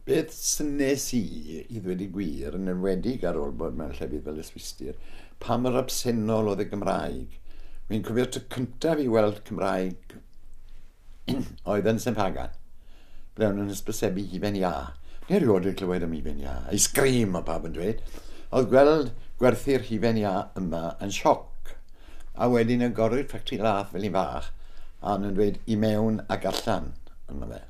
Beth wnes i, i ddweud y gwir, yn enwedig ar ôl bod mewn llefydd fel Yswistir, pa mor absennol oedd y Gymraeg. Wi'n cofio'r tro cyntaf i weld Cymraeg oedd yn Saint Pagan, ble o'n nhw'n hysbysebu hufen iâ. Neu rioed wedi clywed am hufen iâ. Ice cream, o pawb yn dweud. Oedd gweld gwerthu'r hufen iâ yma yn sioc. a wedyn yn gorwy'r ffactri lath fel un fach, a nhw'n dweud i mewn ac allan yno fe.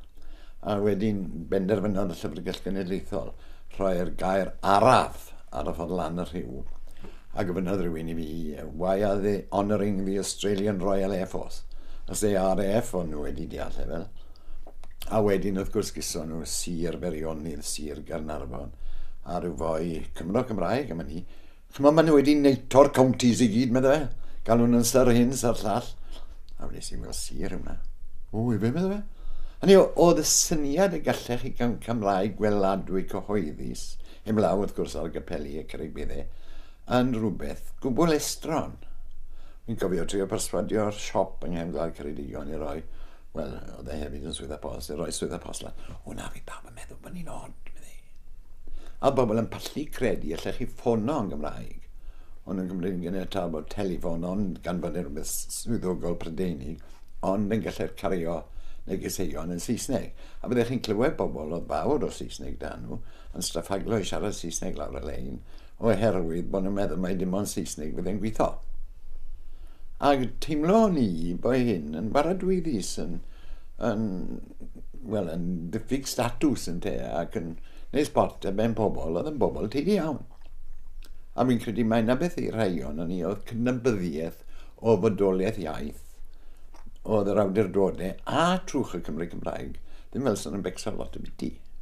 A wedyn benderfynodd y Llyfrgell Genedlaethol rhoi'r gair araf ar y ffordd lan y rhiw, a gofynnodd rhywun i fi, why are they honouring the Australian Royal Air Force, as they are AF o'n nhw wedi deall efel. A wedyn wrth gwrs gyson nhw Sir Feirionydd, Sir Gaernarfon, a rhyw foi Cymro Cymraeg am hynny, Ch'mod maen nhw wedi neito'r counties i gyd medda fe. Galw nhw'n syr hyn, syr llall. A wnes i weld sir yma. O, i fe medda fe. Hynny oedd y syniad y gallech chi gawn camlau gweladwy cyhoeddus, heblaw wrth gwrs ar gapeli y Caribidde, yn rhywbeth gwbl estron. Fi'n cofio trio perswadio'r siop yng Nghefn Gwlad Ceredigion i roi, wel, oedd e hefyd yn swyddfa post, i roi swyddfa post lan. O na, fi pawb yn meddwl bod ni'n od, meddai. A bobl yn pallu credu allech chi ffono yn Gymraeg. Ond yn Cymru yn ganiataol bod telefon ond gan fod yn rhywbeth swyddogol Prydeinig, ond yn gallu'r cario negeseuon yn Saesneg. A byddech chi'n clywed bobl oedd fawr o Saesneg da nhw, yn straffaglo i siarad Saesneg lawr y lein, oherwydd bod nhw'n meddwl mai dim ond Saesneg fydd yn gweithio. Ac teimlo o'n i bod hyn yn baradwyddus, yn, yn, wel, yn diffyg statws yn te ac yn neud sport a ben pobl oedd yn bobl teulu iawn. A fi'n credu mae yna beth i'r rhai o'n ni oedd cydnabyddiaeth o fodolaeth iaith oedd yr awdurdodau a trwch y Cymru Cymraeg, ddim fel sy'n yn becso lot o biti.